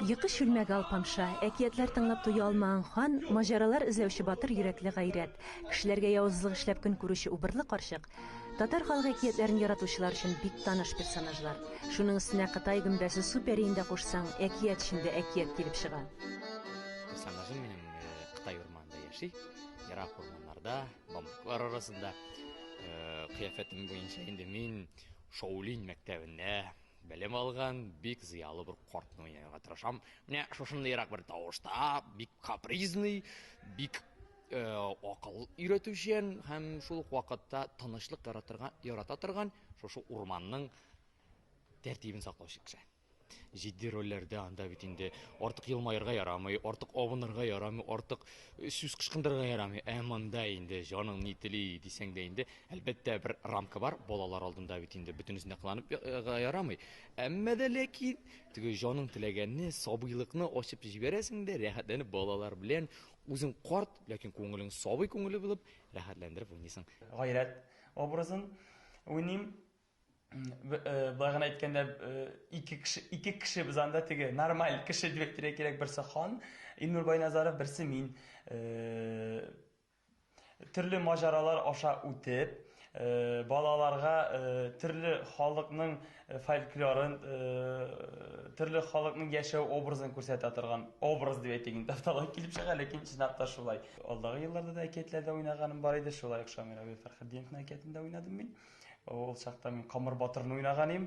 Йокы чүлмәге Алпамша, әкиятләр тыңлап туя алмаган хан, маҗаралар эзләүче батыр йөрәкле гайрәт, кешеләргә явызлык эшләп көн күрүче убырлы карчык, татар халык әкиятләрен яратучылар өчен бик таныш персонажлар. Шуның өстенә Кытай гөмбәсе Су пәриен дә кушсаң, әкият эчендә әкият килеп чыга. Персонажым минем Кытай урманында яши, ерак урманнарда, бамбуклар арасында. Кыяфәтем буенча инде мин Шаулинь мәктәбендә. Белем алган, бик зыялы бер картны уйнарга тырышам. Менә шушындыйрак бер тавышта, бик капризный, бик э, акыл өйрәтүчән һәм шул ук вакытта тынычлык яратырга, ярата торган шушы урманның тәртибен саклаучы кеше. Җитди рольләрдә анда бит инде артык елмаерга ярамый, артык авынырга ярамый, артык сүз кышкындырырга ярамый. Ә монда инде җаның ни тели дисәң дә инде Әлбәттә, бер рамка бар, балалар алдында бит инде бөтенесенә кыланып га ярамый. Әмма дә ләкин теге җаның теләгәнне, сабыйлыкны ачып җибәрәсең дә, рәхәтләнеп балалар белән үзең карт, ләкин күңелең сабый күңеле булып, рәхәтләндереп уйныйсың. Гайрәт образын уйныйм. Болай гына әйткәндә, ике кеше, ике кеше без анда теге нормаль кеше дип әйтергә кирәк, берсе хан Илнур Байназаров, берсе мин. Төрле маҗаралар аша үтеп, балаларга төрле халыкның фольклорын, төрле халыкның яшәү образын күрсәтә торган образ дип әйтик инде, аталык килеп чыга, ләкин чынлап та шулай. Алдагы елларда да әкиятләрдә уйнаганым бар иде, шулай ук Шамил Абил Фәрхетдиновның әкиятендә уйнадым мин. Ул чакта мин Камыр батырны уйнаган идем.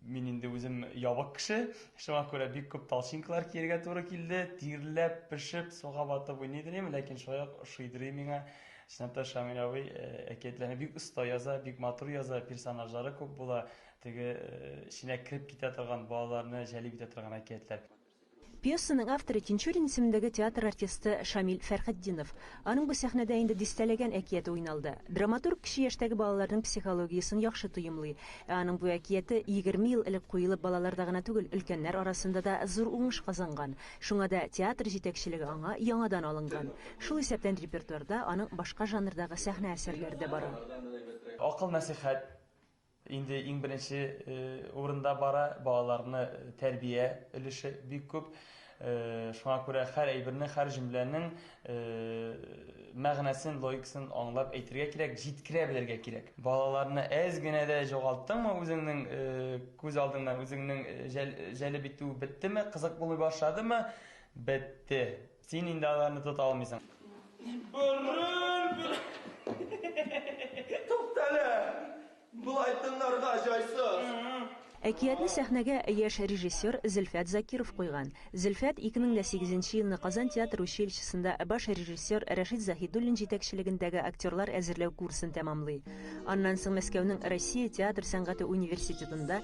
Мин инде үзем ябык кеше. Шуңа күрә бик күп толчинкалар киергә туры килде. Тирләп, пешеп, суга батып уйный идем, ләкин шулай ук шуйдырый миңа. Чынлап та Шамил абый э, әкиятләрне бик оста яза, бик матур яза, персонажлары күп була. Теге э, эченә кереп китә торган балаларны җәлеп итә торган әкиятләр. Пьесаның авторы, Тинчурин исемендәге театр артисты Шамил Фәрхетдинов. Аның бу сәхнәдә инде дистәләгән әкияте уйналды. Драматург кече яшьтәге балаларның психологиясен яхшы тоемлый. Ә аның бу әкияте егерме ел элек куелып балаларда гына түгел, өлкәннәр арасында да зур уңыш казанган. Шуңа да театр җитәкчелеге аңа яңадан алынган. Шул исәптән репертуарда аның башка жанрдагы сәхнә әсәрләре дә бара. Акыл-нәсыйхәт, Инде иң беренче урында бара, балаларны тәрбия өлеше бик күп. Шуңа күрә һәр әйберне, һәр җөмләнең мәгънәсен, логикасын аңлап әйтергә кирәк, җиткерә белергә кирәк. Балаларны әз генә дә җогалттыңмы үзеңнең күз алдыңнан, үзеңнең җәлеп итү беттеме, кызык булмый башладымы, бетте. Син инде аларны тота алмыйсың. Борын, борын. Туктале! Болай тыңларга җайсыз. Әкиятне сәхнәгә яшь режиссер Зөлфәт Закиров куйган. Зөлфәт 2008 нче елны Казан театр училищесында баш режиссер Рәшит Заһидуллин җитәкчелегендәге актерлар әзерләү курсын тәмамлый. Аннан соң Мәскәүнең Россия театр сәнгате университетында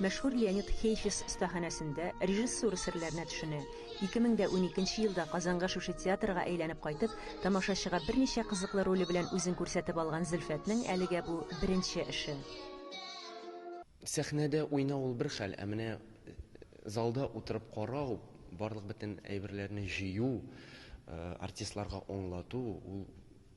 Мәшһүр Леонид Хейфиц остаханәсендә режиссура серләренә төшенә. Ике мең дә уникенче елда Казанга шушы театрга әйләнеп кайтып, тамашачыга берничә кызыклы роле белән үзен күрсәтеп алган Зөлфәтнең әлегә бу беренче эше. Сәхнәдә уйнау ул бер хәл, ә менә залда утырып карау, барлык бөтен әйберләрне җыю, артистларга аңлату, ул.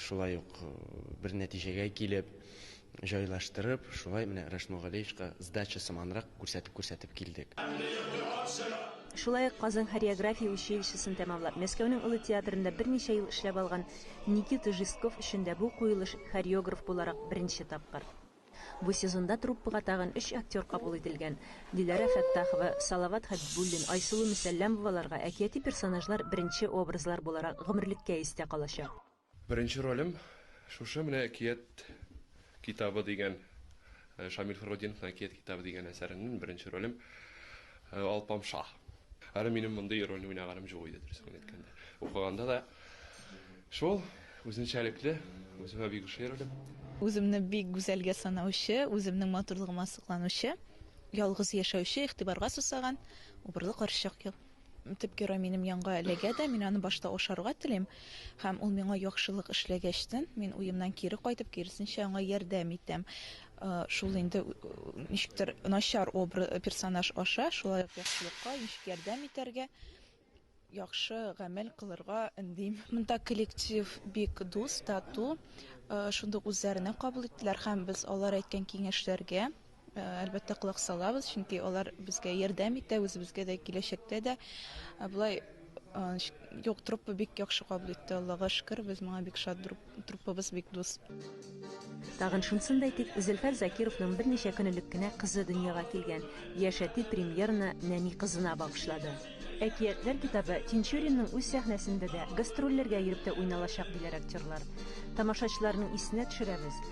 Шулай ук бер нәтиҗәгә килеп, җайлаштырып, шулай менә Рәшит Мулгалеевичка сдача сыманрак күрсәтеп-күрсәтеп килдек. Шулай ук Казан хореография училищесын тәмамлап, Мәскәүнең Олы театрында берничә ел эшләп алган Никита Жестков өчен дә бу куелыш хореограф буларак беренче тапкыр. Бу сезонда труппага тагын өч актер кабул ителгән. Диләрә Фәттахова, Салават Хәбибуллин, Айсылу Мөсәлләмоваларга әкияти персонажлар беренче образлар буларак гомерлеккә истә калачак. Беренче ролем шушы менә әкият китабы дигән, Шамил Фәргутдиновның әкият китабы дигән әсәреннән беренче ролем Алпамша. Әле минем мондый рольне уйнаганым җук иде, дөресен генә әйткәндә. Укыганда да. Шул, үзенчәлекле, үземә бик ошыйрдым. Үземне бик гүзәлгә санаучы, үземнең матурлыгыма сокланучы, ялгыз яшәүче, игътибарга сусаган, убырлы карчык. Төп герой минем янга эләгә дә, мин аны башта ашарга телим, һәм ул миңа яхшылык эшләгәчтен, мин уемнан кире кайтып, киресенчә аңа ярдәм итәм. Шул инде ничектер начар обра персонаж аша шулай ук яхшылыкка ничек ярдәм итәргә, яхшы гамәл кылырга өндим. Монда коллектив бик дус, тату, шундук үзләренә кабул иттеләр һәм без алар әйткән киңәшләргә, әлбәттә, колак салабыз, чөнки алар безгә ярдәм итә, үзебезгә дә киләчәктә дә. Болай юк, труппа бик яхшы кабул итте, Аллага шөкер, без моңа бик шат, Труппабыз бик дус. Тагын шунысын да әйтик, Зөлфәр Закировның берничә көн элек кенә кызы дөньяга килгән. Яшь әти премьераны нәни кызына багышлады. Әкиятләр китабы Тинчуринның үз сәхнәсендә дә, гастрольләргә йөреп тә уйналачак, диләр актерлар. Тамашачыларның исенә төшерәбез,